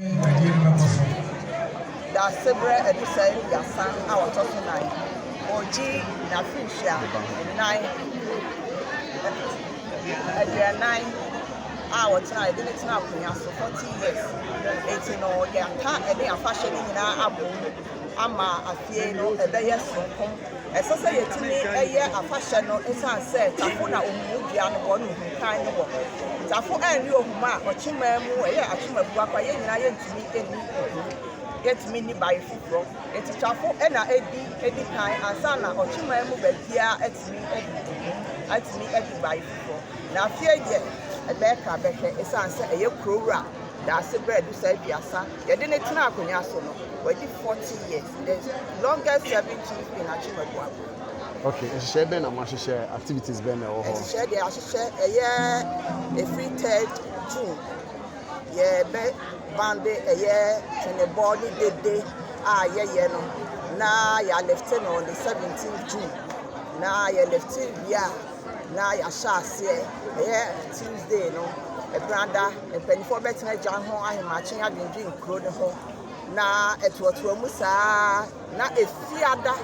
dwumadie no bɛkɔ so. Daasebrɛ Adusa aduasa a ɔtɔ so nan ɔregye n'afenhyia nnan aduanan a ɔtena ɛde ne tena akonnwa so 40 years enti no yɛaka ɛne afahyɛ no nyinaa abom ama afie no ɛbɛyɛ soronko. Ɛsɛ sɛ yɛtumi yɛ afahyɛ no ɛsiane sɛ tafo na ohumu dua no wɔ ne ohukan no wɔ. Tafo ɛnne ohumu a ɔkyemaa mu ɛyɛ akyema bu akwa yɛn nyinaa yɛntumi ɛni ohumu yɛntumi nni bae foforɔ nti tafo ɛna ɛdi ɛdi kan ansa na ɔkyemaa mu baabiara atumi ɛdi ohumu atumi ɛdi bae foforɔ na afie deɛ ɛbɛka bɛhwɛ ɛsiane sɛ ɛyɛ kuro wura daase berɛ du saa aduasa Yɛde no tenaa akonnwa so no, wadi forty years, the longest serving chief in Akyem Abuabo. Okay, nhyehyɛe bɛn na mo ahyehyɛ? Activities bɛn na ɛwɔ hɔ? Nhyehyɛe deɛ ahyehyɛ ɛyɛ efiri third June, yɛbɛ bande ɛyɛ tenebɔ ne dede a yɛyɛ no na yɛalifte no on the seventeenth June na yɛlifte wie a Na yɛahyɛ aseɛ ɛyɛ Tuesday no ɛberɛ ada mpanimfoɔ bɛtena gya ho ahemakye adwendwen kuro no ho na ɛtoatoa mu saa na efiada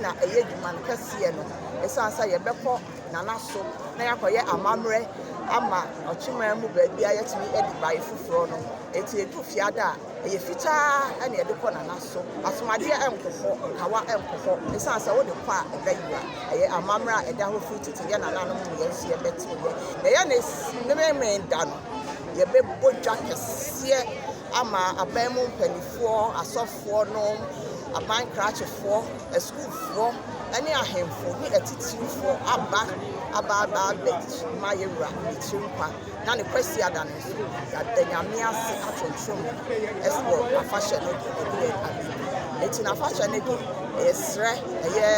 na ɛyɛ adwuma no kɛseɛ no ɛsiane sɛ yɛbɛkɔ nana so na yɛakɔyɛ amammerɛ ama ɔkyemaa mu baabi a yɛtumi adi bae foforɔ no ɛti ɛdu fiada a Ɛyɛ fitaa na yɛde kɔ nana so. Asomadeɛ nkɔ hɔ, nkawa nkɔ hɔ. Ɛsiane sɛ wode kɔ a ɛbɛ yera. Ɛyɛ amammerɛ a ɛda hɔ firi tete. Yɛn nananom ne yɛn nso yɛbɛ tee yɛ. Na yɛn ne Memenmen da no, yɛbɛ bɔ dwa kɛseɛ ama aban mu mpaninfoɔ, asɔfoɔ nom, aban krakyefoɔ, asukuufoɔ, ɛne ahenfo ne atitirifoɔ aba aba aba abɛ ma yɛn wura Aburokyire nkwa. na ne Kwasiada no nso, yɛada Nyame ase atontom ɛs wɔ afahyɛ no de ɛdu yɛn anim. Enti na afahyɛ no de, ɛyɛ srɛ, ɛyɛ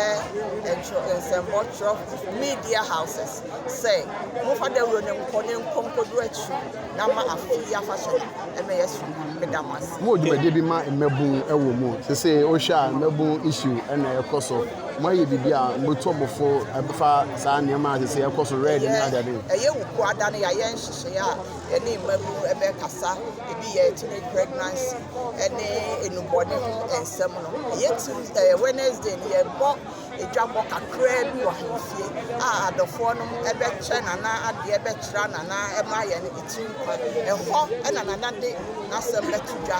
ntwerɛ, nsɛmbɔ twerɛ, media houses sɛ momfa dawuro no nkɔ ne nkɔ nkɔdu akyiri na ma afei yi afahyɛ no ɛmɛ yɛ so ma meda mo ase. Mo wɔ dwumadie bi ma mmabun ɛwɔ mu? Sese wohwɛ a mmabun issue ɛna ɛkɔ so. Moayɛ biribi a mobetu mo fo ɛfa saa nneɛma a sese ɛkɔ so red ne adeade ho? Ɛyɛ wo kua da no yayɛ nhyehyɛe a yɛne mmabunu ɛbɛ kasa ebi yɛ teenage pregnancy ɛne enubɔne ho ɛnsɛm no ɛyɛ Tuesday Wednesday no yɛbɔ edwabɔ kakraa bi wɔ ahemfie a adɔfoɔ nom ɛbɛ kyɛ nana adeɛ ɛbɛ kyerɛ nana ɛma yɛn etiri kwa ɛhɔ ɛna nana de n'asɛm bɛto dwa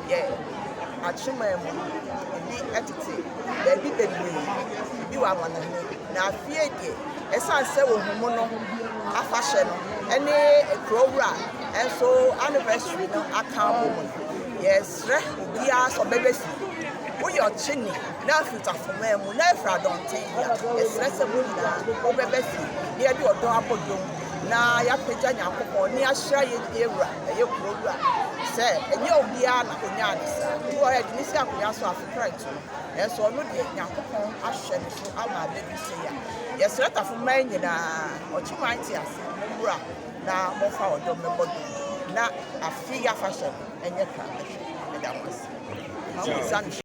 Yɛ akyemaa mu bi tete baabi bebree bi wɔ amanɔne, na afie deɛ, ɛsiane sɛ wɔhumu no afahyɛ no ne kuro wura nso anniversary no aka abɔ mu no, yɛsrɛ obiara sɛ ɔbɛbɛsi. Woyɛ ɔkyeni na afiri Tafomaa mu na afiri Adɔnten de a, yɛsrɛ sɛ mo nyinaa mobɛbɛsi na yɛde ɔdɔ abɔ dawuru na yɛapagya Nyankopɔn ne ahyira yɛn wura. ɛyɛ kuro wura sɛ ɛnyɛ obiara na ɔnyaa ne saa. Ebi wɔ hɔ a, ɛtumi si akonnwa so afekra ntu no, nanso ɔno deɛ Nyankopɔn ahwɛ no so ama abɛdu sei a. Yɛsrɛ tafo mmaa nyinaa, ɔkyeman te ase, mommra na momfa ɔdɔ mmɛbɔ dwom na afe yi afahyɛ no ɛnyɛ kra mmɛhwɛ. Meda mo ase.